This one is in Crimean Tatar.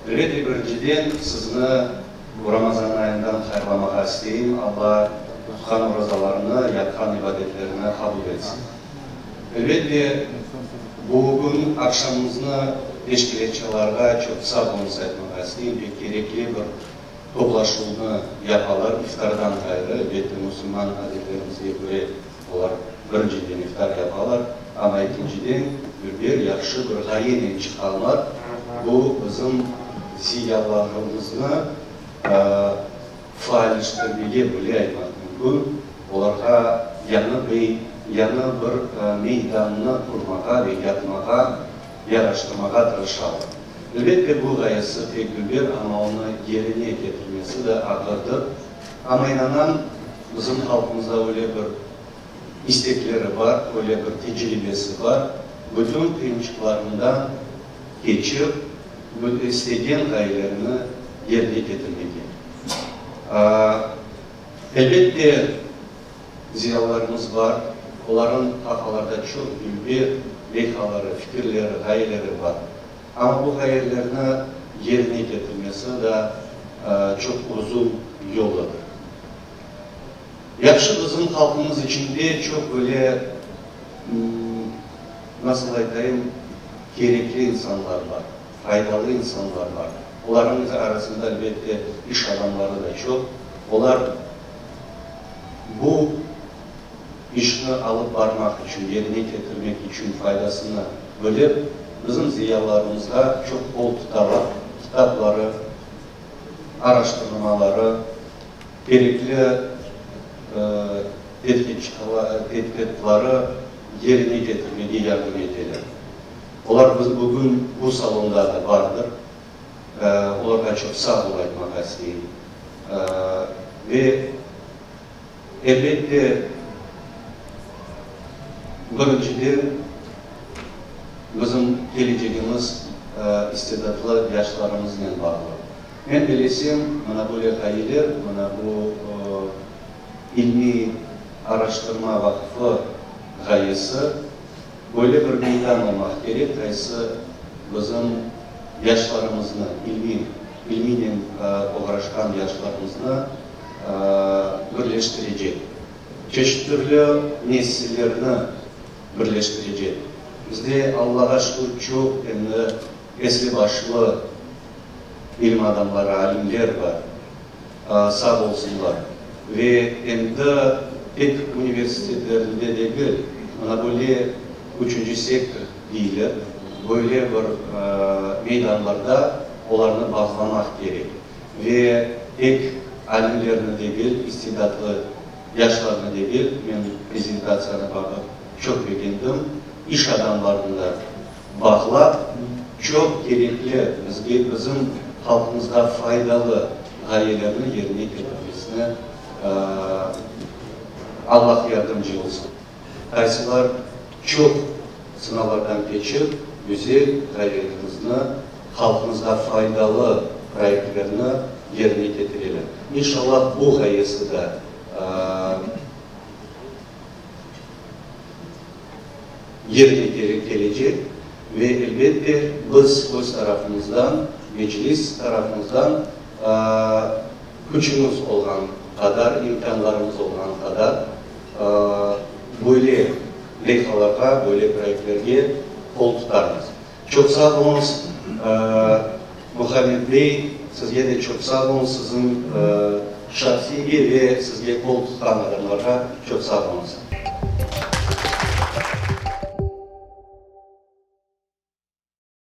Döredi, birinciden, sizni bu Ramazan ayından hayırlamağa isteyim. Alla tutqan orazalarını, yapqan ibadetlerini qabul etsin. Elbette, bugün aqşamımıznı teşkilâtçılarğa çoq sağ olunız aytmağa isteyim, pek kerekli bir toplaşuvnı yapalar, iftardan ğayrı, elbette, musulman adetlerimizge köre Olar, birinciden, iftar yapalar, amma ekinciden, bir yahşı bir ğayenen çıqalar, bu bizim ziyalarımıznı faalleştirmege, böyle aytmaq mümkün, olarğa yañı bir, yañı bir meydannı qurmağa ve yapmağa, yaraştırmağa tırışalar. Elbette, bu ğayesi pek güber, amma onı yerine ketirmesi de ağırdır. Amma inanam, bizim halqımızda öyle bir istekleri bar, öyle bir tecribesi bar, bütün qıyınçıqlarından keçip, istegen ğayelerini yerine ketirmege. Elbette, ziyalılarımız bar, olarnıñ haqalarda çoq bilgi, leyhaları, fikirleri, ğayeleri bar. Amma bu hayallerni yerine ketirmesi da çoq uzun yol edi. Yahşı bizim halqımız içinde çoq böyle, nasıl aytayım, kerekli insanlar bar, faydalı insanlar bar. Olarnıñ arasında elbette iş adamları da çoq. Olar bu. işni alıp barmaq içün, yerine ketirmek içün faydasını bilip, bizim ziyalarımızğa çoq bol tutaraq kitapları, araştırmaları, kerekli tedqiqatları yerine ketirmege yardım eteler. Olar bugün bu salonda da bardır. Olarğa çoq sağ ol aytmağa isteyim. Ve. Elbette, birinciden, bizim kelecegimiz istidatlı yaşlarımıznen bağlı. Men belesem, mına böyle ğayeler, mına bu ilmiy araştırma vaqfı ğayesi, böyle bir meydan olmaq kerek, qaysı bizim yaşlarımıznı, ilmiy, ilmiynen oğraşqan yaşlarımıznı, birleştirecek, çeşit türlü nesillerni birleştirecek. Bizde, Allağa şükür, çoq endi esli başlı ilim adamları, alimler bar, sağ olsunlar. Ve endi tek universitetlerinde degil, ana böyle üçünci sektor deyilir, böyle bir meydanlarda olarnı bağlamaq kerek. Ve tek alimlerni degil, istidatlı yaşlarnı degil, men prezentatsiyanı baqıp çoq begendim, iş adamlarını da baqlap, çoq kerekli, bizge, bizim halqımızğa faydalı ğayelerni yerine ketirmesine Allah yardımcı olsun. qaysılar çoq sınavlardan keçip, güzel proyektimizni, halqımızğa faydalı proyektlerni yerine ketireler. İnşallah, bu ğayesi de yerine kelecek ve, elbet de, biz öz tarafımızdan, Meclis tarafımızdan, Küçümiz olğan qadar, imkânlarımız olğan qadar böyle leyhalarğa, böyle proyektlerge qol tutarmız. Çoq sağ oluñız, Muhammed bey, sizge de çoq sağ oluñız, siziñ şahsiyge ve sizge qol tutqan adamlarğa çoq sağ oluñız.